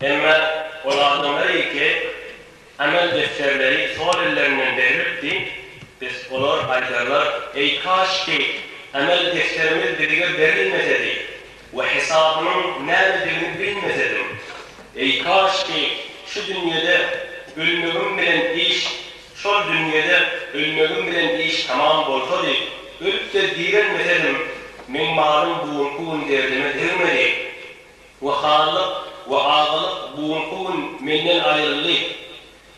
Emma ol adamlar eýke amel defterleri sol ellerinden berlipdi, biz olar aýdarlar, eý kaşki amel defterimiz bizige berilmesedi we hesabynyň nämedigini bilmesedim, eý kaşki şu dünýede ölmegim bilen iş şol dünýede ölmegim bilen iş tamam bolsady, ölüp-de direlmesedim, meň malym bu günki gün derdime degmedi. We hanlyk we azalyk bu günki gün menden aýryldy,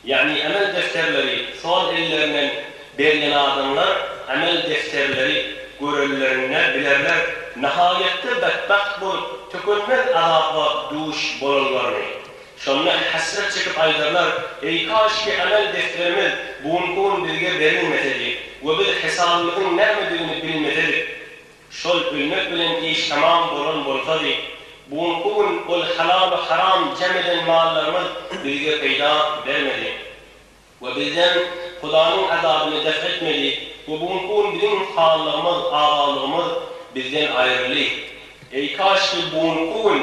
ýagny emel defterleri sol ellerinden berlen adamlar emel defterleri görenlerinde bilerler nahaýatda betbagt bolup tükenmez azaba duş bolanlaryny. Şonda hesret çekip aýdarlar, Eý kaşki emel defterimiz bu günki gün bizge berilmesedi we biz hesabymyzyň nämedigini bilmesedik! Şol ölmek bilen iş tamam bolan bolsady, bugunky gün ol halalu haram jem eden mallarymyz bizge peýda bermedi we bizden Hudanyň azabyny def etmedi we bugunky gün biziň sallygymyz, azalygymyz bizden aýryldy. Eý kaşki bugunky gün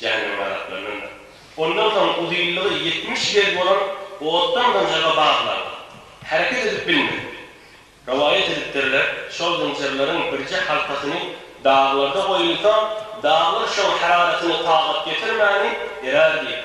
Jahanneme gazaplanandyr. Ondan soň uzynlygy ýetmiş gez bolan otdan zynjyra baglan, hereket edip bilmez. Rowaýat edipdirler, şol zynjyrlaryň birje halkasyny daglarda goýulsa, daglar şoň hararatyny tagat getirmäni erär diýip.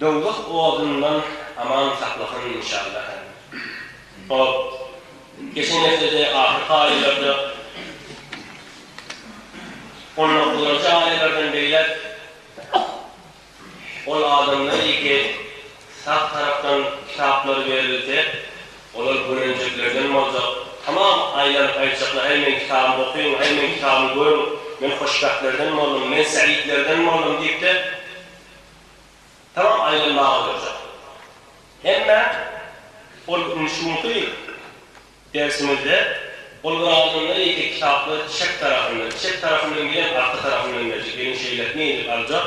Dowzah odundan aman saklasyn inşallaha. Hop. Geçen hepdede ahyr haýylarda Honaklyda jaýlardan beýläk ol adamlar ýeke sap tarapdan kitaplary berilse, Olar görenjeklerden boljak. Tamam, aýlanyp aýtjaklar, Häý, meň kitabymy okyň, häý, meň kitabymy görüň, men hoşbähtlerden boldum, men säidlerden boldum diýip-de, tamam aýlanmaga oýarjak. Emma ol indi şu günki ýyl dersimizde ol bir adamdan ýeke kitaplary çep tarapyndan, çep tarapyndan bilen arka tarapyndan berjek, ýöne şeýle etmeýin diýip aljak,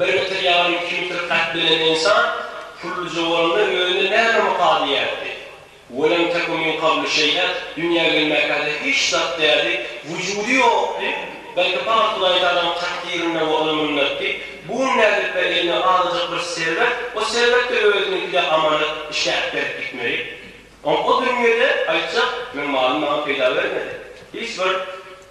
Bir metre ýaly iki metr kad belent ynsan Pullyja bolanda özüne näme mukal diýerdi? Welem teku min kablu şeý'e, dünýä gelmäkäde hiç zat dädi, wujudy ýokdy, belki pakat Hudaýtagalaň takdyrynda we Ona mynnatdy, bu gün nädip-ä eline azajyk bir serwet, o serwet-de özüniňkide amanet, işläp berip gitmeli. Oňa o dünýede, aýtjak, meň malym maňa peýda bermedi. Hiç bir.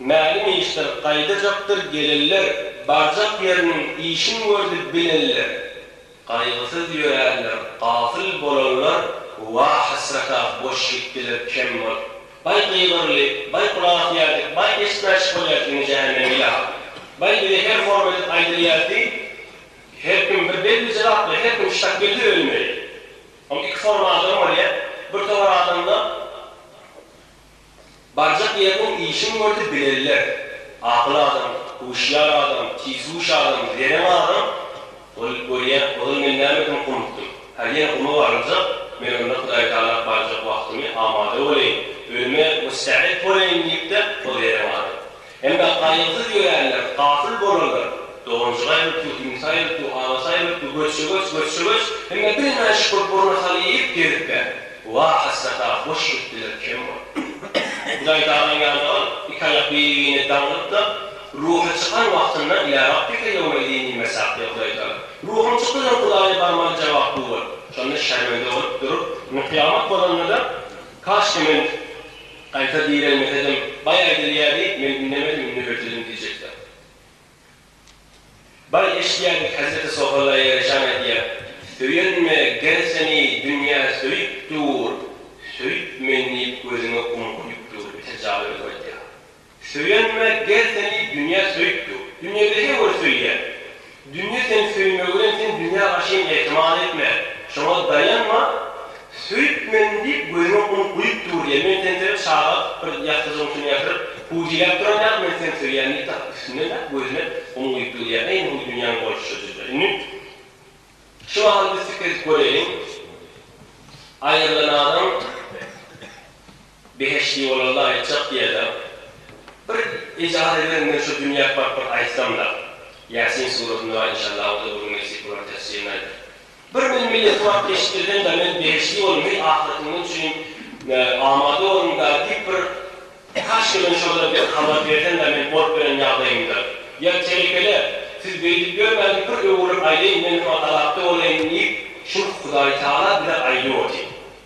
Mälim işler gaýdajakdyr gelenler barjak ýeriniň işin gördi bilenler gaýgysyz ýöränler gafyl bolanlar wa hasrata boş gitdiler kem bolup baý gygyryly baý gulak asýardyk baý eşitmäçik bolýardyk indi jähenneme ýa baý bize her horm edip aýdylýardy her kim bir belli jylaply her kim şak geldi ölmeli ol iki forma adam bolýa bir towar adamda Barjak ýeriniň işin gördi bilenler, akyl adam, huşýar adam, tizhuş adam, zerän adam ol görýä, ozal men näme edip gumukdym. Hä, ýene guma baryljak, men onda Hudaý Tagala barjak wagtymy amada boleýin, ölüme müstäet boleýin diýip-de ol zerän adam. Hem-de gaýgysyz ýörenler, gafyl bolanlar, doganjyk aýryldy, iňlis aýryldy, agasy aýryldy, göçje-göç, göçje-göç, hem-de bilmän şükür burna sal iýip gezipler. Wah, hasrat-a, boş gitdiler, kem boldular. Hudaýtagalaň ýanjygan iki aýak biri-birine daňylyp-da, ruhy çykan wagtynda, Ilâ rabbike ýewmeidin diýip mesaklady Hudaýtagala. Ruhum çykdy diýen Hudaýa barmaly jogap bu boldy. Şonda şermende bolup durup, indi kyýamat bolanda-da, Kaşki men. Gaýta direlmesedem, baý aýdylýardy, men indemedim, indi hötüdüm diýjekdim. Baý eşidýärdi, Hezreti Sohalla ýareşan aýdýar, Söýenme, ger seni dünýä söýüp dur, söýüp men diýip gözüňe gum guýup dur, biter jaly özü aýdýar. Söýenme, gel seni dünýä söýüpdir. Dünýede her bir söýýär. Dünýe seni söýmegi bilen sen dünýä garşy hem ätimal etme. Şoňa daýanma. Söýüp men diýip gözüňe un guýup dur diýýär. Men seni sebäp çaga bir ýassyjygyň üstüne ýatyryp huwjylap duran ýaly men seni söýýän diýip tapyp üstünden däp gözüne un guýup dur diýýär. Äý indi bu dünýäň bolşy şujydy. Indi şu mahaly biz pikir edip göreýliň. Aýrylan adam. Behişdi ýola laýykjak diýerler. Bir ijazat beriň men şu dünýä baryp bir aýtsamda. Ýasin suratyny bar inşallah o da bir gün nesip bolar tefsirini aýdyp. Bir men milleti baryp geçip gelýände men behişdi ýoluň heý ahyretyňyz üçin amada boluňda diýip bir kaşki men şolara bir habar bersende men bolup gelen ýagdaýymda. Ýa telekele siz beýdip ýörmäň diýip bir öwürlik aýdaýyn men soň azapda bolaýyn diýip şul Hudaýtagala bize aýdyp otyr.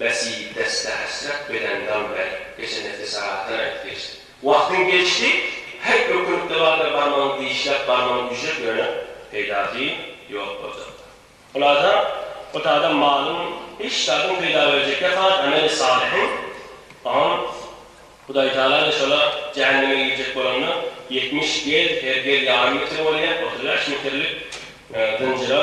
Besi deste hesret beden dam ber geçen hepde sagatdan aýdyp geçdim. Wagtyň geçdi heý ökünlikde barda barmagyň dişläp barmagyň ücret bereniň peýdasy ýok boljak. Hulasa ot adam malyň hiç zadyň peýda berjekde has ameli salyhyň on Hudaý taala da şola jähenneme girjek bolanda ýetmiş gez her gez ýarym metre bolýa otuz bäş metrlik zynjyra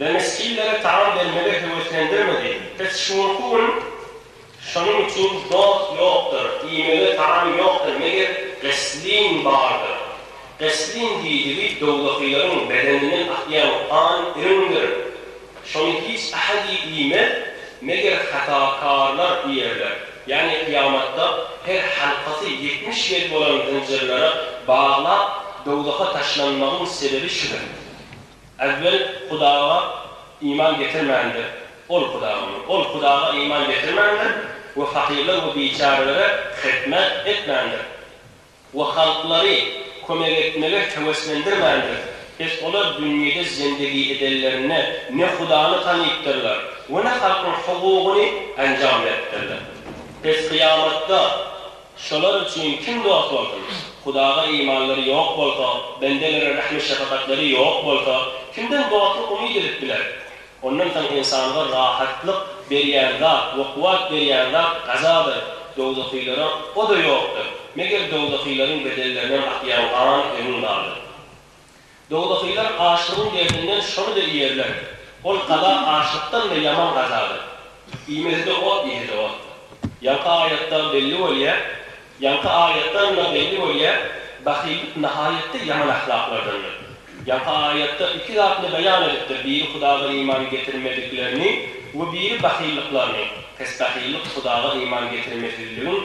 Denisçilere taam bermegi höweslendirmedi. Biz şuňky gün Şonuň üçin dost ýokdur, iýmege taam ýokdur, meger Gysslin bardyr. Gysslin diýdigi dowdakylaryň bedeninden akýan gan iriňdir. Şony hiç ahadi iýmez, meger hatakarlar iýerler. Ýagny kyýamatda her halkasy ýetmiş ýedi bolan zynjyrlara baglap dowzaha taşlanmagyň sebebi şudur. Äwwel Hudaga iman getirmändir, ol Hudagyň, ol Hudaga iman getirmändir we fakyrlar we biçärelere hyzmat etmändir we halklary kömek etmege höweslendirmändir, pes olar dünýede zendegi edenlerinde ne Hudany tanypdyrlar we ne halkyň hukugyny enjam beripdirler. Pes kyýamatda Şolar üçin kim dost bolsun? Hudaga imanlary ýok bolsa, bendelere rehmi-şefagatlary ýok bolsa, kimden dostluk umyt edip biler? Ondan soň ynsanga rahatlyk berýän zat we kuwwat berýän zat gazadyr, dowzahylara o-da ýokdur, meger dowzahylaryň bedellerinden akýan gan emin galyp. Dogdakylar açlygyň derdinden şony-da iýerler. Ol gaza açlykdan-da ýaman gazadyr. Iýmesi-de ot, ýeside ot. Ýaňky aýatdan belli bolýar, ýaňky aýatdan-da belli bolýar, bahyllyk nahaýatda ýaman ahlaklardandyr. Ýaňky aýatda iki zatyny beýan edipdir, biri Hudaga iman getirmediklerini we biri bahyllyklaryny, pes bahyllyk Hudaga iman getirmesizligiň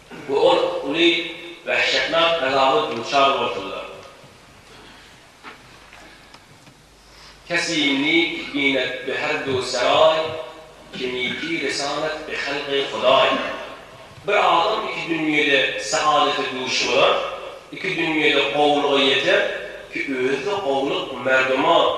Bu ot uly wähşetnak azaba duçar bolsalar, Kesimi binet bi herdu seraý, kemiki resanet bi helgy hudaý. Bir adam iki dünýede saadete duş bolar, iki dünýede gowulyga ýeter ki özi-de gowulyk merduma,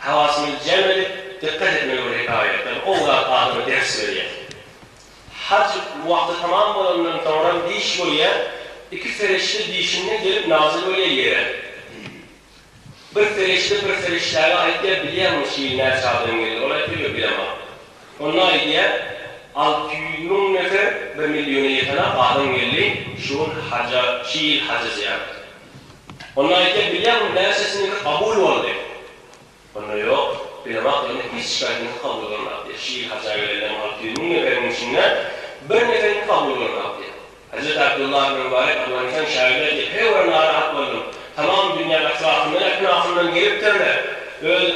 Hawasymyzy jem edip, dykgat etmeli bir hekaýatdan o zat adama ders berýär. Haj wagty tamam bolandan soňram diş bolýar, iki ferişde dişinden gelip nazyl bolýar ýere. Bir ferişde bir ferişdäge aýtýar, bilýäňmi şu ýyl näçe adam geldi? Ol aýtýar, ýok bilemok. Onda aýdýar, alty ýüz müň nefer, bir milliona ýeten-ak adam geldi şu gün haja, şu ýyl haja zyýarata. Onda aýtýar, Bilýärmiň näçesiniňki kabul boldy? Onda ýok, bilemok, ýöne hiç şikaýtyňyz kabul bolmap diýýär. Şir hajä gelende alty ýüz müň neberiň içinden bir neberiňki kabul bolmap diýýär. Hezreti Abdullah ibn Mubarek Owganystan şaýyry aýtýar, Heý ora narahat boldum. Tamam dünýä etrapyndan, äknafyndan gelipdirler. Öz.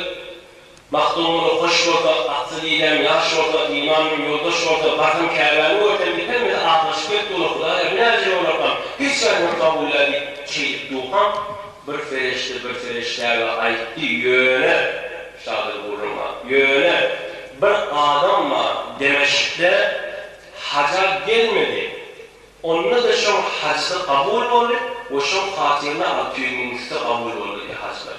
Magtymguly hoş bolsa, atsyz didäň ýaş bolsa, iman bilen ýoldaş bolsa, barsam Käbäni görsem, biter bizi aglaşyp gelip dura Hudaýa binäje bolarkam, hiç zadymy kabulläý diýip şeýdip durkam, bir fereşde bir fereşdäge aýtdy, ýöne, şadyr gürrüňa, ýöne, bir adam bar, Demeşkde haja gelmedi, onda-da şoň hajysy kabul boldy we şoň hatyryna alty ýüz müň üsti kabul boldy diýýär hajylar.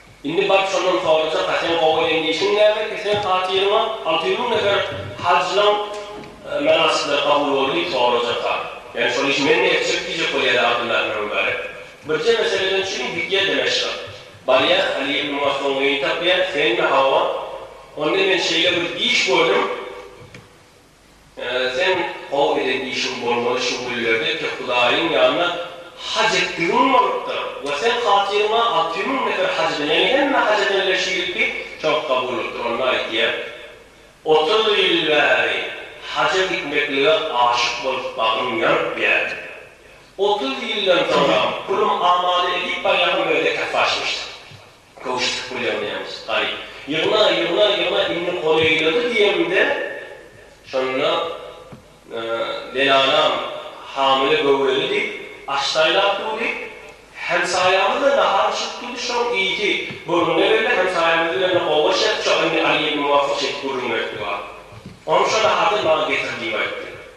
Indi baryp şondan sorajak-a, sen gowy eden işiň nämekä, seň hatyryňa alty ýüz müň nefer hajylaň mynasyplary kabul boldy diýip sorajak-a. Ýagny şol işi men-de etjek diýjek bolýar-a Abdylla ibn Mübarek. Birje meseleden çüň gidýär Demeşga. Barýar, Aly ibn Masunu gyn tapýar, Senmi, hawa. Onda men şeýle bir iş gördüm. Seň gowy eden işiň bolmaly şu günlerde tek Hudaýyň ýanyna haj etdigiň bolupdyr we seň hatyryňa alty müň nefer haj eden, ýagny hemme haj edenler şu ýylky çalt kabul bolupdyr, onda aýtýar, Otuz ýyl bäri haja gitmeklige aşyk bolup bagyň ýanyp ýär. Otuz ýyldan soňam pulum amada edip barýarkam öýde kafe açmyşdyk. Köwşütip bolýar nämus, garyp. Ýygna, ýygna, ýygna, indi goly eýledi diýemde, şonda Lelanam hamile göwreli diýip, aç saýlap durdy. Hemsaýamyz-da nahar bişirip durdy, şoň ýiti gürrüňde geldi. Hemsaýamyz bilen-de oba şertçe, indi Alyýew muwaffak şeýdip gürrüň beripdi, Onça nahardan maňa getir diýip aýtdy.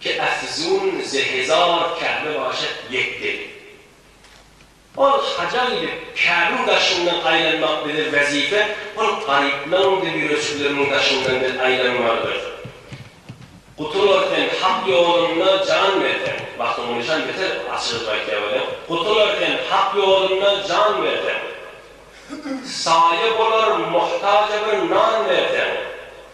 Ke Efzun ze hezar Käbe başat ýetdi. Ol haja gidip, Käbiň daşyndan aýlanmak bize wezipe, ol garyplaryň we ýüreçikleriň daşyndan biz aýlanmalydyrys. Gutular sen Hak ýolunda jan berseň, bagtyň nyşan beter açylyp aýtýar welin, gutular sen Hak ýolunda jan berseň, saýa bolar muhtaja bir nan berseň,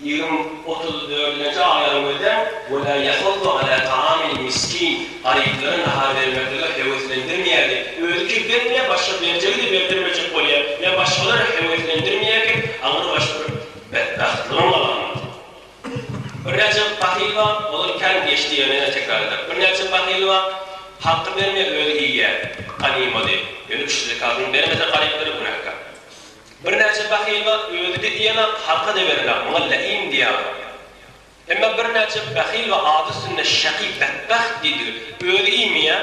Ýylyň otuz dördünji aýlaryň özem we la ýahuddu alâ taâmil miskin, garyplara nahar bermeklige höweslendirmeýärdi, özi kibden bilen başga berjegi-de berdirmejek bolýar, ýa başgalar höweslendirmeýärken aňrybaş bir betbagtlygyň alamaty. Birnäçe bahyl bar, olar kän geç diýenini ýene tekrar eder. Birnäçe bahyl bar, halka bermeýär, özi iýýär ganymady. Ýöne kişi zekatyny bermese garyplara günäkär. Birnäçe bahyl-a özi-de iýenok, halka-da berenok, muňa läim diýýärler. Emma birnäçe bahyl we ady üstünde şaky, betbagt diýdigi, özi iýmeýär,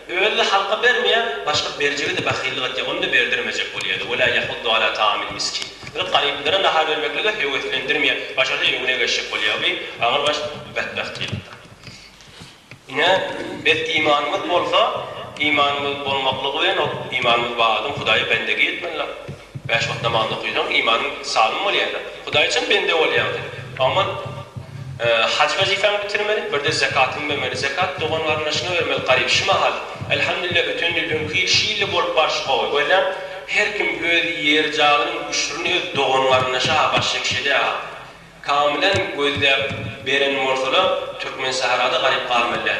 özi-de halka bermeýär, başga berjege-de bahyllyk etýär, ony-da berdirmejek bolýar-da, Wela ýahuddu ala taamil miskin. Ýöne garyplara nahar bermeklige höweslendirmeýär, başarsa öňüne geçjek bolýar, bi agyr baş betbagt diýlipdir. Ine, berk imanymyz bolsa, imanymyz bolmaklygy bilen ol imanymyz bar adam Hudaýa bendegi etmelidir. Bäş wagt namaz okysaň, imanyň sagdyn bolýar-da. Hudaýa çyn bende bolýaň sen. Oňman haj wezipäňi bitirmeli, birde zekatyňy bermeli. Zekat dogan-garyndaşyňa bermeli, garyp. Şu mahal, Elhamdülillah, öten ýyl, öňki ýyl şu ýylda bolup barşy gowy. Görýäň, her kim öz ýer-jaýynyň üşürini öz dogan-garyndaşa-ha başçylyk edýär-ha. Kamylan gözläp beren bolsalar Türkmen sahrada galyp galmalyda.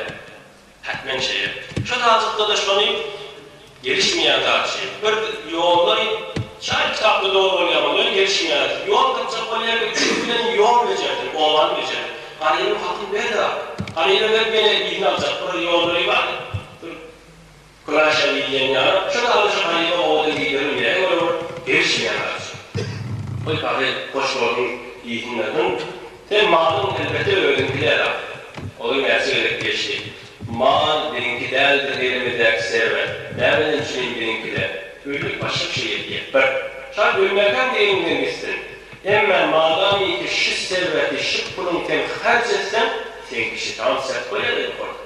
Hatmen şeýle. Şu talypda-da şony gelişmeýän zat şeý. Bir ýollary şaýy kitapda dogry bolýar bolýar gelişmeýär. Ýol tapjak bolýar we üçüsi bilen ýol bejerdir, owadan bejer. Garybyň hakyny ber-de. Garyba berip ýene iýni aljak bir ýollary bar. Küraşa diýilýän ýaly, şu dagyşy halypa owadan giderin ýere görüp, gelişmeýän dagyşy. Goý, Pahyr, hoş gördüm diýsinler soň, sen malyň elbete özüňki däl-a. Olar näçe gezek gelişdi. Mal biziňki däldir elimizdäki serwet. Näme ençemem biziňki-de. Öýlük başga bir şey ýetýä. Bir. Şa ölmäkäm diliňden gitsin. Emmä madamyki şu serweti, şu puluň sen harç etseň, seňki şitan sert bolýar-a ýokardan.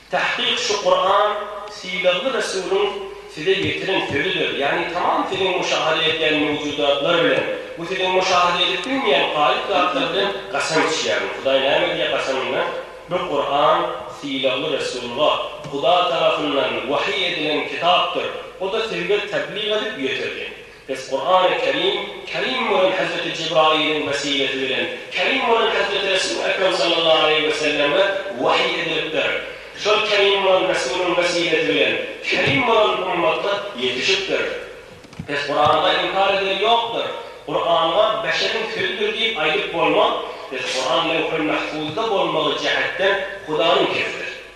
Tahkyk şu Kuran sylagly Resulyň size ýetiren sözüdir, ýagny tamam siziň müşahada etýän mewjudatlar bilen, bu siziň müşahada edip bilmeýän gaýyp zatlar bilen gasam içýärin, Hudaý näme diýýär gasamynda, bu Kuran sylagly Resulga Hudaý tarapyndan wahyý edilen kitapdyr, o-da sizge tebliğ edip ýetirdi, Biz Kurany Kerim, Kerim bolan Hezreti Jibrailiň wesilesi bilen, Kerim bolan Hezreti Resul Ekrem sallallahu aleýhi we selleme wahyý edilipdir. Şol Kerim bolan Resulyň wesilesi bilen, Kerim bolan ummata ýetişipdir. Biz Kuranda inkar edeni ýokdur. Kuranga beşeriň sözüdir diýip aýdyp bolmaz. Biz Kuran Lewhul Mahfuzda bolmagy jähetden Hudaýyň kezidir.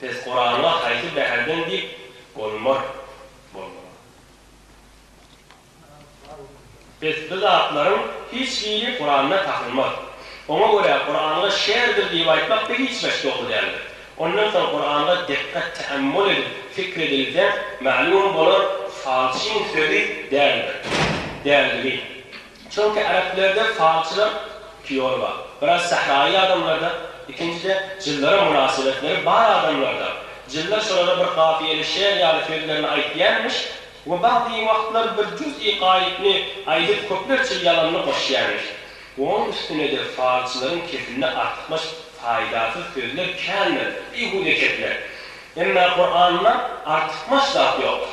Pes Kuranyňa haýsy bäherden diýip bolmar bolmaga. Pes bu zatlaryň hiç biri Kuranda tapylmaz. Oňa görä Kuranga şerdir diýip aýtmak bir hiç baş dogry däldir. Ondan soň Kuranga dikkat teammul edip fikr edilse mälim bolar falçyň sözi däldir. Däldigi. Çünki äreplerde falçylar iki ýoly bar. Biraz sähraýy adamlarda, ikinjide jyllara mynasybetleri bar adamlarda. Jyllar şolara bir kafiýeli şeýer ýaly sözlerini aýtýarmyş we bady wagtlar bir juz-i gaýypny aýdyp köplerçe ýalanyny goşýarmyş. Onuň üstünede falçylaryň kesinde artykmaç faýdasyz sözler kändir, bihuda kepler. Emma Kuranda artykmaç zat ýokdur.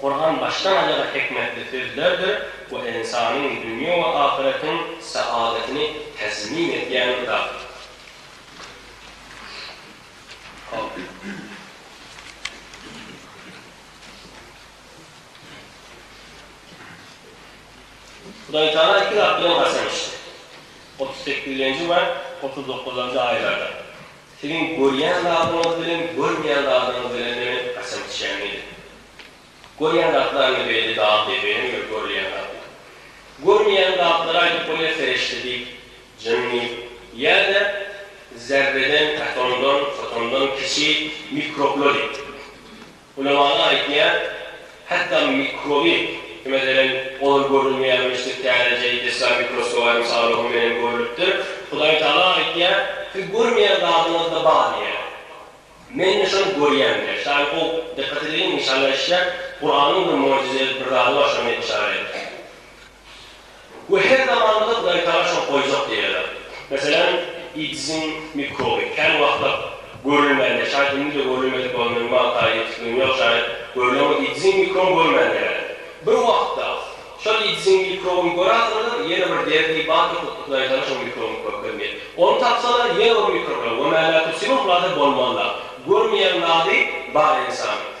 Kuran başdan-aýaga hikmetli sözlerdir we ynsanyň dünýe we ahyretiň saadatyny tezmin edýän kitapdyr. Siziň görýän zadyňyz bilen görmeýän zadyňyz bilen meniň gaçan kişäm nedir? Görýän zatlar indi beýle dag depeden we görülýän zatlar. Görmeýän zatlary aýdyp bolýar serişde diýip, jynny, ýa-da zerreden, atomdan, fotondan kiçi mikroblar diýip. Ulamalar aýtýar, hatda mikroby, meselem, olar görünmeýän müşdük täzejeý desga mikroskoba mysal onuň menen görlüpdir. Hudaý Tagala aýtýar, Siz görmeýän zadyňyzda bar diýýär. Men-de şony görýän diýýär. Şaýy gowy dykgat edeliň, inşallah eşidýär. Kuranyň bir möjüzeli bir zady bar, şony men yşarat edip. We her zaman gyz gaýtala şok boljak diýýärler. Meselem, IDSiň mikroby, kän wagtlap görülmände, şaýt indi-de görülmedik bolan minimal taýy ýetik dünýä şaýat görlen we IDSiň mikroby görmände bäri. Bir wagtda, şol IDSiň mikrobyny görasyňyzam, ýene bir derdi, barka putly gaýtala şol mikrobyň körkezmeýe. Ony tapsalar, ýene bir mikrob bilen we mälätursyman zady bolmazlar. Görmeýän zady bar ynsanyň.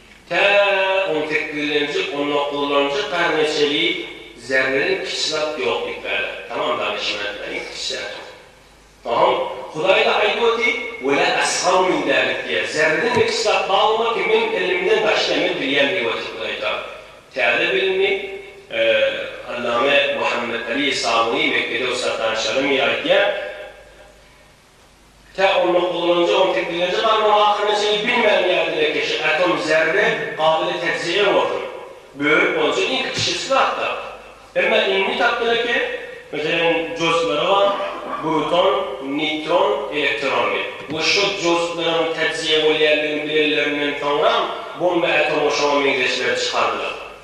Tä on sekizlenji, on dokuzlanjy garna çenli zerreden kiçi zat ýok diýipdirler. Tamam danyşmentler iň kiçi zat. Soňam Hudaýda aýdyp oty, we la asgaru min zalik diýýär. Zerreden de kiçi zat bar bolmaz ki, meň ilimimden daşda men bilýän diýip otyr Hudaý taýdan. Täze bilimli Allame Muhammet Ali Sabuny Mekgede ussat danyş alym ýa aýdýar. Tä onda gullanyljagyň teknologiýa barmagy hakynda hiç zat bilmän ýaly dilekeşi, atom, zerre, gabyly täjirýeň bolsun. Bölüp bolunsa iň kiçijesi zatda. Emma indi tapdylar ki, meselem, joustlary bar, bruton, neýtron, elektron diýip. We şo joustlaryň täjirýe bolýandygyny bilenlerinden soňram, bomba atomy şoňa meňzeşlerini çykardylar.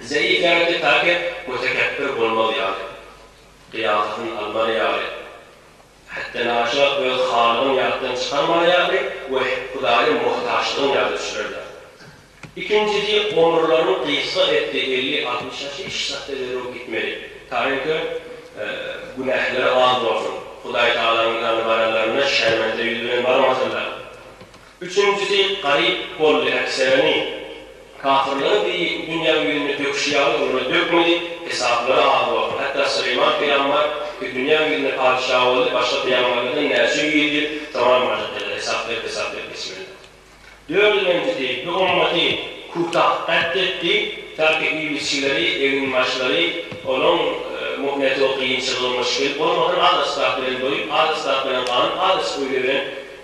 Zeýi kändi päket we tekepbir bolmaz ýaly, gyýafatyny almaly ýaly, hätdenaşa öz halygyň ýatdan çykarmaly ýaly we Hudaýa muhtaçlygyň ýaly düşlerler. Ikinjisi, omurlaryň gysga etdi, elli-altmyş ýaş hiç zatda zerur gitmeli. Taýynki, günähleri az bolsun, Hudaýtagalaryň ýanyna baranlarynda şermende ýüz bilen barmasynlar. Üçünjisi garyp boldy äkserini kafyrlaň deý dünýä ýüzüne döküşi ýaly olara dökmedi, hesaplary az boldy. Hatda Süleýman pygamber ki dünýä ýüzüne patyşa boldy, başga pygamberlerden näçe ýüz ýyl soranmajak ýaly hesap berip hesap berip geçmeli boldy. Dördünenjisi bu ymmaty Kutah gatl etdi, taky ibliçileri, eginbaşlary olaň muhneti o kynçylygy muşkili bolmadan az asbap bilen doýup, az asbap bilen ganyp, az iç öýle bilen,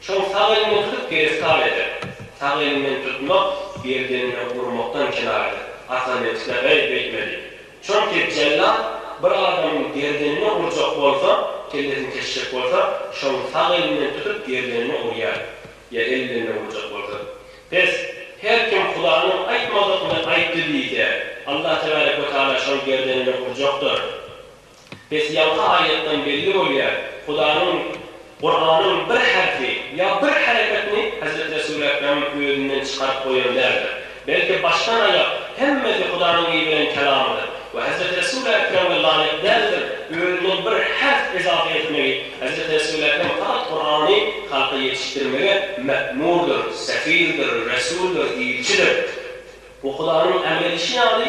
Soň sag eliňden tutup giriftar eder. Sag eliňden tutmak gerdeniňe urmakdan kenaýadyr. Ata nebsine gyz beýtmeli. Çünki jellat bir adamyň gerdenine urjak bolsa, kellesini kesjek bolsa, şoň sag elinden tutup gerdenine urýar. Ýa el bilenle urjak bolsa. Pes, her kim Hudanyň aýtmadygyny aýtdy diýse, Allah tebärek we taala şoň gerdenine urjakdyr. Bes ýaňky aýatdan belli bolýar, Hudanyň Kuranyň bir herfi ýa bir hereketini Hezreti Resul Ekrem özünden çykaryp goýan däldir. Belki başdan aýak hemmesi Hudanyň iberen kelamydyr we Hezreti Resul Ekreme laýyk däldir özünden bir herf ezafe etmegi Hezreti Resul Ekrem fakat Kurany halka ýetişdirmege mekmurdyr, sefirdir, resuldyr, ilçidir. Bu Hudanyň emr edişi ýaly.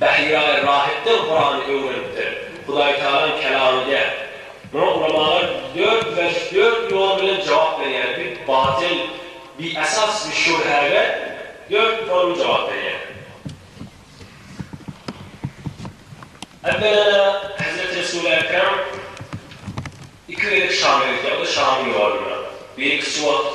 Bahiraý Rahypdan Kurany öwrenipdir. Hudaýtagalaň kelamy däl. Muňa ulamalar dört wejh, dört ýol bilen jogap berýärler, bi batyl, bi esas, bi şübhe we dört forma jogap berýär. Ewwelem-ä Hezreti Resul Ekrem iki gezek Şama gitýär, o-da Şamyň ýolunda. Biri kiçi wagt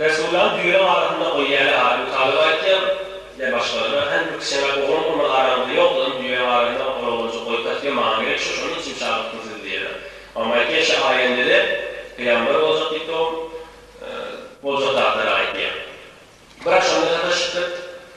Resullaň düýe arasynda ol ýäli Abu Talyba aýtýan, ne başgalara, hany bir kiçeňräk oglan bolmaly araňyzda ýokduryn, düýäň arasynda bir oglanjyk goýup-ä size maňa gerek şu, şonuň üçin çagyrtdym sizi diýýärler. Oňa aýtýan, Şa aýendede pygamber boljak diýip dogum, boljak zatlaram aýtýar. Bir agşamda sataşypdyr.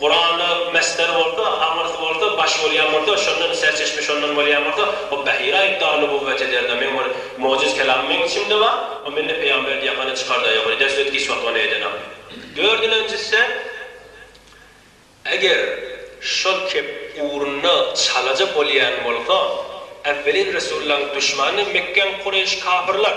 Kuranda Mesder bolsa, aňyrsy bolsa, baş bolýan bolsa, şondan serçeşme şondan bolýan bolsa, bu Bahira aýypdar nübüwwet ederdi, meň bir mojiz kelamym meň içimde bar, o mende peýgamber diýakany çykarda ýok, eder söz giç wagt ony edenok. Dördülenjisde, eger şol kep ugrunda çalaja bolýan bolsa, äwwelin Resullaň duşmany Mekgäň Kureýş kafyrlar.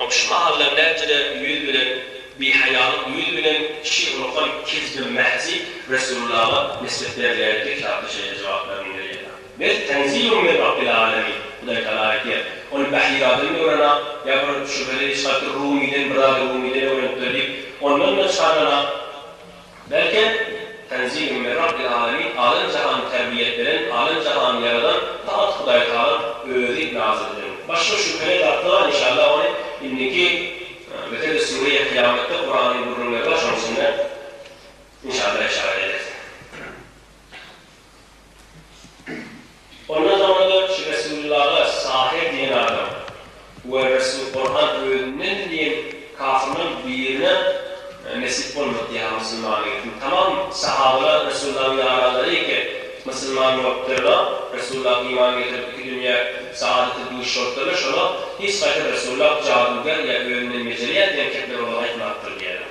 Ol şu mahallar näçerägiň ýüz bilen, bihaýalyk ýüz bilen şir ulakan kesbem mähji Resullaga nisbet berýäni pek ýatda şeýle jogaplar inderýär. Bel tenzilun min Rabbil alemin, Hudaý Tagala aýtýar, Ony Bahiradan öwren-ak, ýa bir şübheli şatyr Rumydan, bir zady Rumydan öwrenipdir diýip, ondan-da çykardan-ak, Belkem, Tanzilun min Rabbil Alamin, Alem jahany terbiýet beren, Alem jahany ýaradan faqat Hudaýtagalaň Özi nazyl eden. Başga şübheli zatlaram inşallah ony indiki Mesele Sûreýe Kyýametde Kuranyň gürrüňleri bar şonuň içinde inşallah işaret edersiň. Ondan soňra dörtçi Resulyllaga Sahyr diýen adam we Resul Gurhan özünden diýen kafyrlaryň birine nesip bolmady ýa musulman etdi. Tamam sahabalar Resulyllaň ýaranlary eken, musulman bolupdyrlar. Resulyllaha iman getirip iki dünýä saadete duş bolupdyrlar. Şolar hiç gaýtam Resulyllah jaduger ýa özünden mejelýär diýen kepleri olara aýtmapdyr diýýärler.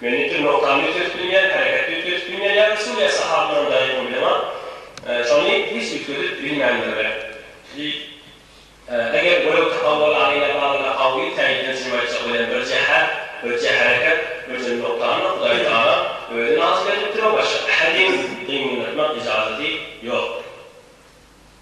Men ýiti nokdan ýüz ösüp bilmeýän, hereket ýüz ösüp bilmeýän ýa-da Suriýa sahabylarynyň daýawyny bileňok. Şony hiç üýtgedip bilmändirler. Diýip, eger görew tapawul aýna barada gawy täjirden çyn aýtjak welin birje här, birje hereket, birje nokdanda Hudaýtagala özi nazy berlipdir we başga ähediň gyňyldatmak yjazaty ýokdur.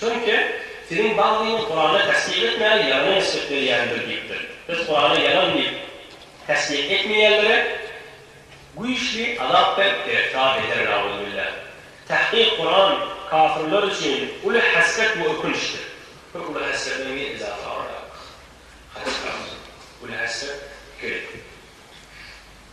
Çünki Siziň baglyňyz Kuranda tassyk etmäni ýalana nisbet berýändir diýipdir. Biz Kurana ýalan diýip tassyk etmeýänlere güýçli azap berip giriftar ederin Auzubillah. Tahkyk Kuran kafirler üçin uly hasret we ökünçdir. Bir uly hasret bilen bir yzafy agyrlyk. Hassret, uly hasret, iki.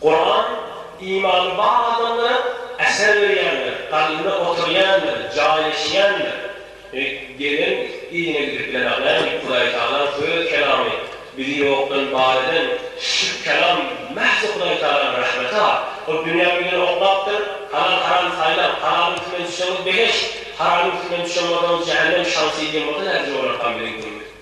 Kuran, imany bar adamlara äser berýändir, kalbynda oturýandyr, jaýlaşýandyr. Gelen yzyna gidip bilenokläň diýip, Hudaýtagalaň söz kelamy bizi ýokdan bar eden şu kelam mähz Hudaýtagalaň rahmeti-ha. Ol dünýä migren oklapdyr, Halal haram saýlaň, halalyň üstünden düşseňiz begeş, haramyň üstünden düşen bolsaňyz jähennem şansy diýen bolsa nädip jograkam biziň dilimiz.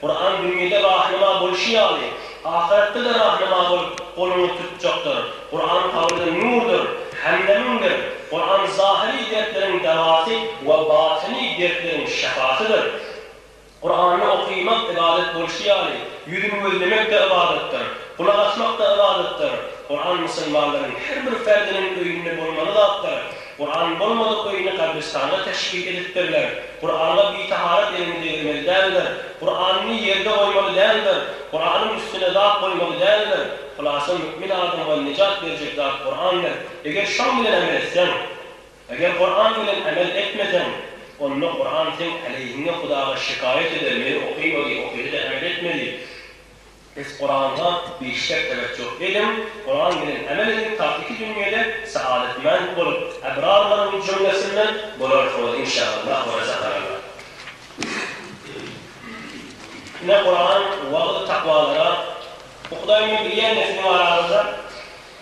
Kuran dünýede rahnama bolşy ýaly, ahyretde-de rahnama bolup goluňy tutjakdyr. Kuran kabyrda nurdyr, hemdemiňdir. Kuran zahyry dertleriň dawasy we batyny dertleriň şypasydyr. Kurany okymak ybadat bolşy ýaly, ýüzüni gözlemek-de ybadatdyr, gulak asmak-da ybadatdyr. Kuran musulmanlaryň her bir ferdiniň öýünde bolmaly zatdyr. Gurany bolmadyk öýüni gabristana teşbih edipdirler. Gurana bitaharat elini degirmeli däldir. Guranyny ýerde goýmaly däldir. Guranyň üstüne zat goýmaly däldir. Hulasa mü'min adama nejat berjek zat Gurandyr. Eger şoň bilen amel etseň, eger Guran bilen amel etmeseň, onda Guran seň aleýhiňe Hudaga şikaýat eder, meni okaýmady, okaýsa-da amel etmedi. Siz Kurana bir şek edip ýok ediň, Kuran bilen emel ediň taht iki dünýede saadetmend bolup ebrarlaryň jümlesinden bolarsyňyz inşaallah we rezakallah. Ine Kuran wagyz takwalara, bu Hudaýyňy bilýän nesliň araňyzda.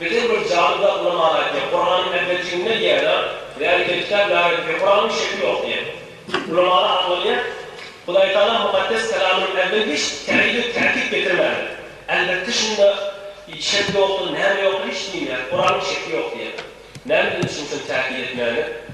Birden bir jadyly aklyma aly aýtýar, Kuranyň äpetjiginde diýýär-de, Zäli kelkitap la ret diýip, Kuranyň şekli ýok diýýär. Ulamalar aklanýar, Hudaýtagala Mukaddes Kalamynyň äwvel hiç täýid we täkit getirmändi. Elbetde şunda şek ýokdur, näme ýokdur hiç diýmeýär, Kuranyň şekli ýok diýýär. Nämeden düşünsem täkit etmäni?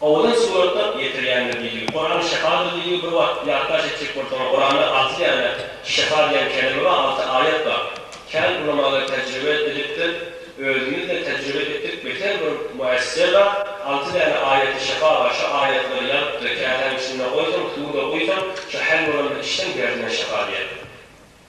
Owalyn surata ýetirýändir diýilgi. Kurany şyfadyr diýilgi bir wagt ýatlaş etjek bolsaňyz Kuranda alty däne şyfa diýen keleme bar alty aýat bar. Kän ulamalar tejribe edipdir. Özümizde tejribe etdik beter bir müessise bar alty däne aýaty şyfa bar şu aýatlary ýazypdyr käsäň içinde goýsaň suwda guýsaň şu häl bolandyr içseň derdiňe şyfa diýer.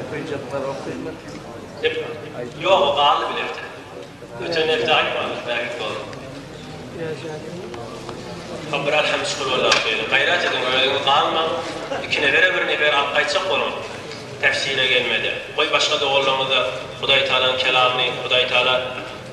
Okyjaklar okymyr. Ýok, ýok, galdy bir hepde. Öten hepde aýtmadyňyz, bärik boldy. Biraz ýadyňda mı? Hop, biraz hem şükür Allaha söýüniň. Gaýrat ediň, özüňiz galmaň. Iki nebere bir nefer alyp gaýtjak boluň. Tefsire gelmede. Goý, başga doganlaryňyz-da Hudaýtagalaň kelamyny, Hudaýtagala